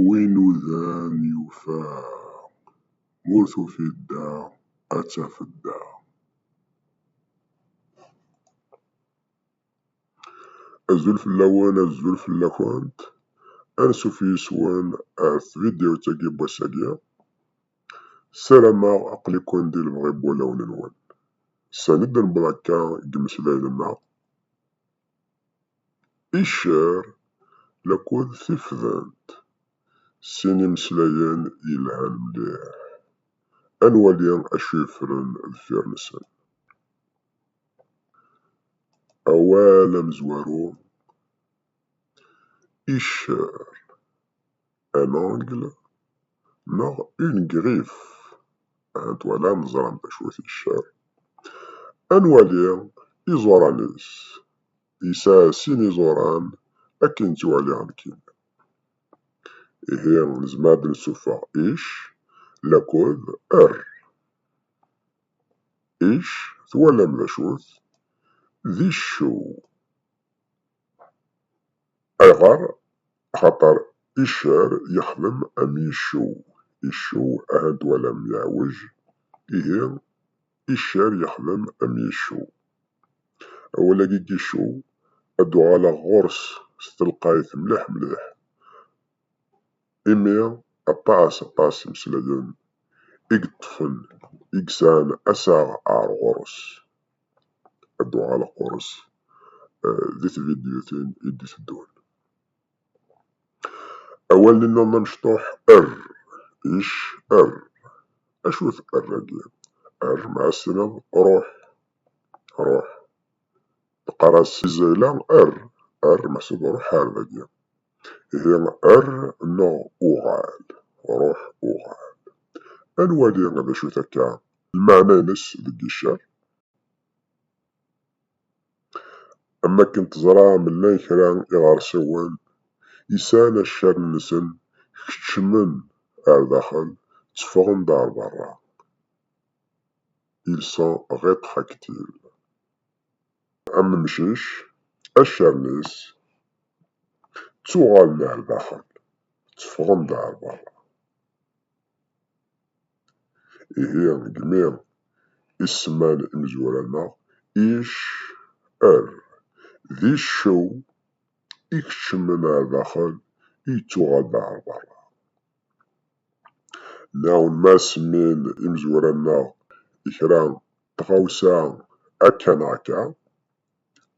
Wi inudan yufa, ma ur tufiḍ da ad tafeḍ da. Azul fell-awen, azul fell-akent, ansuf yis-wen ar tvidyut-agi n wass-agi. Sarameɣ aql-iken di lebɣi n wulawen-nwen. Sani d-newweḍ akka deg yimeslayen-nneɣ. Icer lakud tifdent, sin imeslayen yelhan mliḥ. Ad nwali acu yeffren deffir-nsen. Awal amezwaru, Icer. un angle neɣ une griffe ahat twalam teẓram d acu ticcer ad nwali iẓuran-is yesɛa sin iẓuran akken ttwaliɣ nekkini ihi nezmer ad nessuffeɣ ic lakud er ic twalam d acu-t d iccew Aɣer? Axaṭer iccer yexdem am yiccew, iccew aha n-twalam yeɛwej, ihi iccer yexdem am yiccew. Awal-agi n yiccew ad d-uɣaleɣ ɣur-s s telqayt mliḥ mliḥ. Imi aṭas aṭas imeslayen i yeṭṭfen i yesɛan assaɣ ar ɣur-s, ad d-uɣaleɣ ɣur-s di tvidyutin i d-iteddun. Awalen-nniḍen amecṭuḥ er, ic, err. Acu-t err-agi? Err ma as-tiniḍ ruḥ, ruḥ. Neqqar-as si Zayla err, err meḥsub ruḥ ar dagi. di err neɣ uɣal, ruḥ uɣal. Ad nwali d acu-t akka lmeɛna-ines deg iccer. Am wakken teẓram llan kra iɣersiwen i sɛan accar-nsen keččmen ar daxel, tteffɣen-d ar berra, ils sont rétractiles. Am umcic acaren-is ttuɣalen ar daxel, tteffɣen-d ar berra. Ihi deg mi i semman imezwura-nneɣ ic, er, d iccew ikeččmen ar daxel, yettuɣal-d ar berra. Nɛumma semmin imezwura-nneɣ i kra n tɣawsa akka neɣ akka,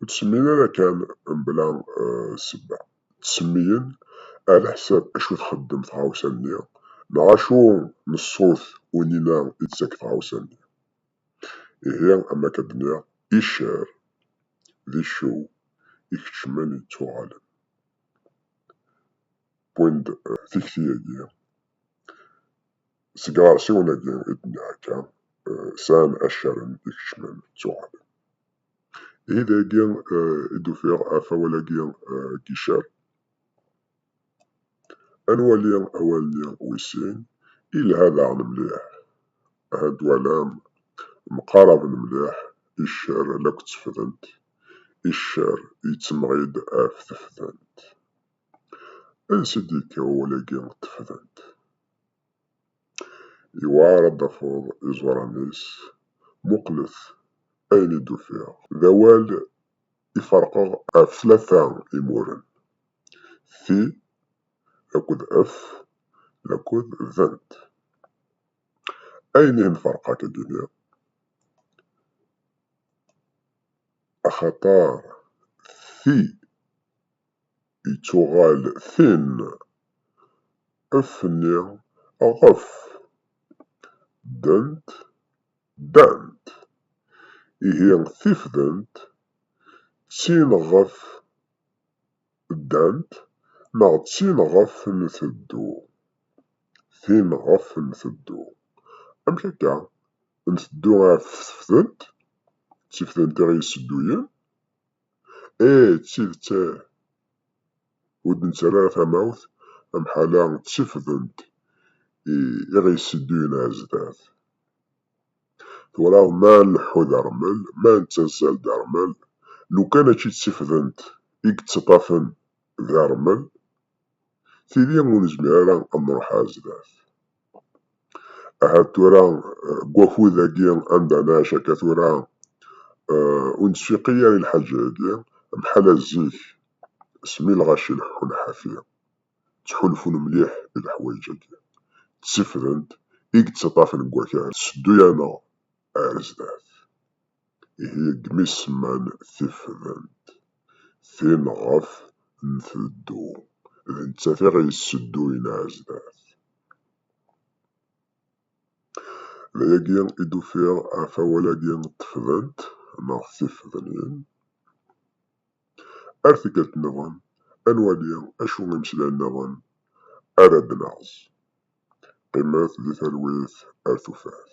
ur tt-semmin ara kan mebla ssebba. Tt-semmiyen ɛlaḥsab acu txeddem tɣawsa-nni neɣ acu n ṣṣut unina i d-tettak tɣawsa-nni. Ihi, am wakk ad d-nniɣ, iccer d iccew ikeččmen yettuɣalen. win d tikti-agi. Seg iɛersiwen-agi i d-nniɣ akka, sɛan accaren ikecmen ttuɣalen. Ihi dagi i d-ufiɣ ɣef awal-agi n Gicer. Ad nwali awal-nni wis sin, yelha daɣen mliḥ. Ahat twalam, mqaraben mliḥ iccer lakk d tefdent, iccer yettemɣi-d ɣef tefdent. Ansi i d-yekka wawal-agi n tefdant? Yewɛer ad d-tafeḍ iẓuran-is, muqlet ayen i d-ufiɣ. D awal i ferqeɣ ɣef tlata imuren, ti akked ef akked dent. Ayen ihi nferq akka ad d-iniɣ? Axaṭer ti. ittuɣal tin, ef-nni ɣef, ddent, ddant, ihi tifdent d tin ɣef ddant neɣ d tin ɣef nteddu, tin ɣef nteddu, amek akka, nteddu ɣef tefdent, d tifdent i ɣ-yessedduyen? Ih, d tidet ur d-nettarra ara tamawt am ḥala ţ-ţifdent i ɣ-yessedduyen ɣer zdat. Twalaḍ ma nleḥḥu d rrmel, ma neţţazzal d rrmel, lukan mačči ţ-ţifdent i yeţţaṭṭafen d rrmel, tili ur nezmir ara ad nruḥ ar zdat. Ahat tura deg wakud-agi anda nɛic akka tura ur nettfiqi ara i lḥaǧa-agi am ḥala zik smi lɣaci leḥḥun ḥafi ttḥulfun mliḥ i leḥwayeǧ-agi d tifdent i yettaṭṭafen deg wakal tetteddu-aneɣ ar zdat. Ihi-ggem isemman tifdent, tin ɣef nteddu, d nettat i ɣ-yessedduyen ar zdat. D ayagi i d-ufiɣ ɣef awal-agi tefdent neɣ tifednin. Ar tikkelt nniḍen ad nwali acu imeslayen nniḍen ara d-naɣz. Qqimet di talwit ar tufat.